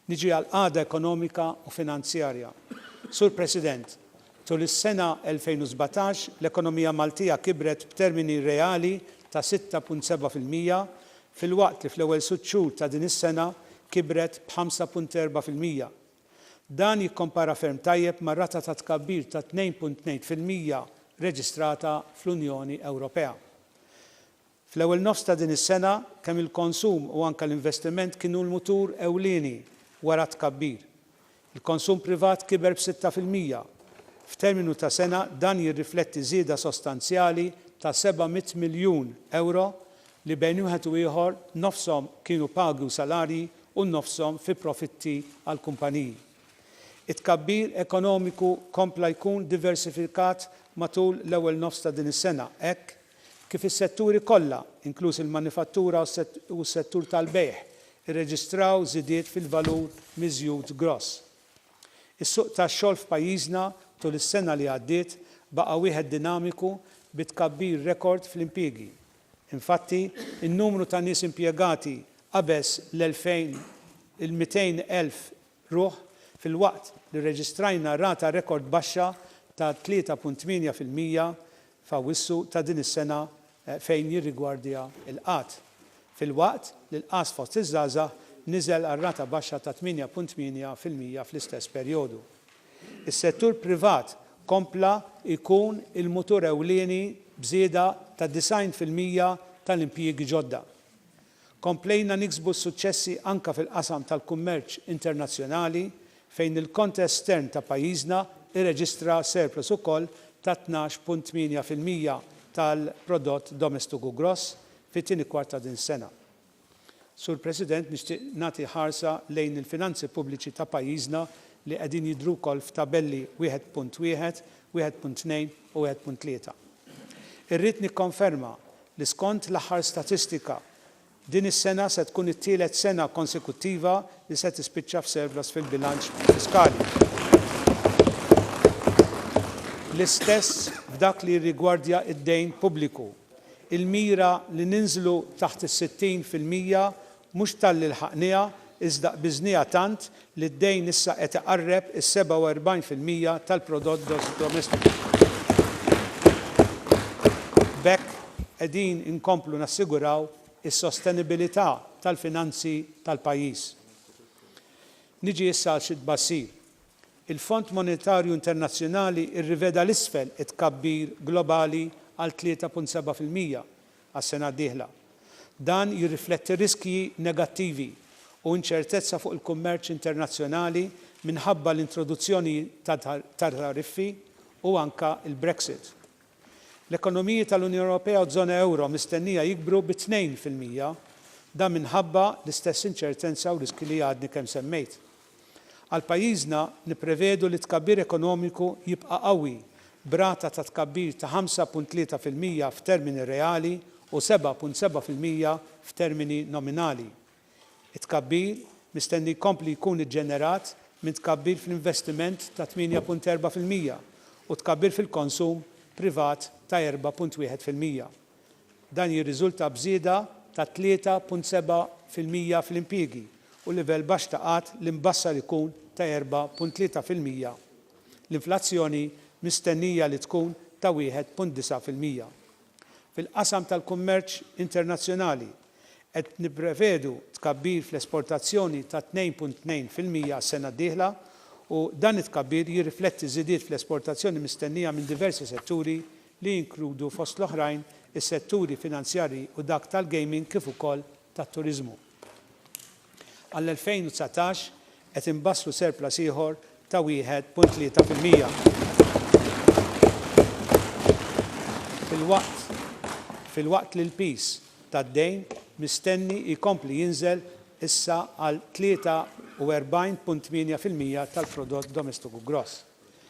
Niġi għall-qagħda ekonomika u finanzjarja. Sur President, tul is-sena 2017 l-ekonomija Maltija kibret b'termini reali ta' 6.7 fil-mija filwaqt li fl-ewwel sitt xhur ta' din is-sena kibret b'5.4 fil-mija. Dan jikkompara ferm tajjeb mar-rata ta' tkabbir ta' 2.2 fil-mija reġistrata fl-Unjoni Ewropea. Fl-ewwel nofs ta' din is-sena, kemm il-konsum u anke l-investiment kienu l-mutur ewlieni wara t-tkabbir. Il-konsum privat kiber b'sitta fil-mija. F'terminu ta' sena, dan jirrifletti żieda sostanzjali ta' 700 miljun ewro li bejn wieħed u ieħor nofshom kienu pagi u salarji u nofshom fi profitti għall-kumpaniji. It-tkabbir ekonomiku kompla jkun diversifikat matul l-ewwel nofs ta' din is-sena hekk kif is-setturi kollha, inkluż il-manifattura u s-settur tal-bejgħ, irreġistraw żidiet fil-valur miżjud gross. Is-suq tax-xogħol f'pajjiżna tul is-sena li għaddiet baqa' wieħed dinamiku bi tkabbir rekord fl-impjiegi. Infatti, in-numru ta' nies impjegati qabeż l-200 elf ruħ filwaqt li rreġistrajna rata rekord baxxa ta' 3.8 fil-mija f'Awwissu ta' din is-sena fejn jirrigwardja l-qgħad, filwaqt li l-qgħad fost iż-żgħażagħ niżel għal rata baxxa ta' 8.8 fil-mija fl-istess perjodu. Is-settur privat kompla jkun il-mutur ewlieni b'żieda ta' 90 fil-mija tal-impjiegi ġodda. Komplejna niksbu s-suċċessi anke fil-qasam tal-kummerċ internazzjonali fejn il-kont estern ta' pajjiżna irreġistra surplus ukoll ta' 12.8 fil-mija tal-Prodott Domestiku Gross fit-tieni kwart ta' din is-sena. Sur President, nixtieq nagħti ħarsa lejn il-finanzi pubbliċi ta' pajjiżna li qegħdin jidhru wkoll f'tabelli 1.1, 1.2 u 1.3. Irrid nikkonferma li skont l-aħħar statistika, din is-sena se tkun it-tielet sena konsekuttiva li se tispiċċa f'surplus fil-bilanċ fiskali. L-istess f'dak li jirrigwardja d-dejn pubbliku. Il-mira li ninżlu taħt is-60 fil-mija mhux talli lħaqnieha iżda qbiżnieha tant li d-dejn issa qed iqarreb is-47 fil-mija tal-prodott gross domestiku. B'hekk qegħdin inkomplu nassiguraw is-sostenibilità tal-finanzi tal-pajjiż. Niġi issa għal xi tbassir. Il-Fond Monetarju Internazzjonali rriveda 'l isfel it-tkabbir globali għal 3.7 fil-mija għas-sena d-dieħla. Dan jirrifletti riskji negattivi u inċertezza fuq il-kummerċ internazzjonali minħabba l-introduzzjoni ta' tariffi u anke l-Brexit. L-ekonomiji tal-Unjoni Ewropea u ż-żona euro mistennija jikbru bi tnejn fil-mija, dan minħabba l-istess inċertenza u riskji li għadni kemm semmejt. Għal pajjiżna, nipprevedu li t-tkabbir ekonomiku jibqa' qawwi, b'rata ta' tkabbir ta' ħamsa punt tlieta fil-mija f'termini reali u seba' punt seba' fil-mija f'termini nominali. It-tkabbir mistenni jkompli jkun iġġenerat minn tkabbir fl-investiment ta' 8.4 fil-mija u tkabbir fil-konsum privat ta' 4.1 fil-mija. Dan jirriżulta b'żieda ta' 3.7 fil-mija fl-impjiegi u livell baxx ta' qgħad li mbassar ikun ta' 4.3 fil-mija. L-inflazzjoni mistennija li tkun ta' 1.9 fil-mija. Fil-qasam tal-kummerċ internazzjonali, qed nipprevedu tkabbir fl-esportazzjoni ta' 2.2 fil-mija għas-sena d-dieħla u dan it-tkabbir jirrifletti żidiet fl-esportazzjoni mistennija minn diversi setturi li jinkludu fost l-oħrajn is-setturi finanzjarji u dak tal-gaming kif ukoll tat-turiżmu. Għall-2019 qed inbassru surplus ieħor ta' 1.3 fil-mija, filwaqt filwaqt li l-piż tad-dejn mistenni jkompli jinżel issa għal 43.8 fil-mija tal-Prodott Domestiku Gross.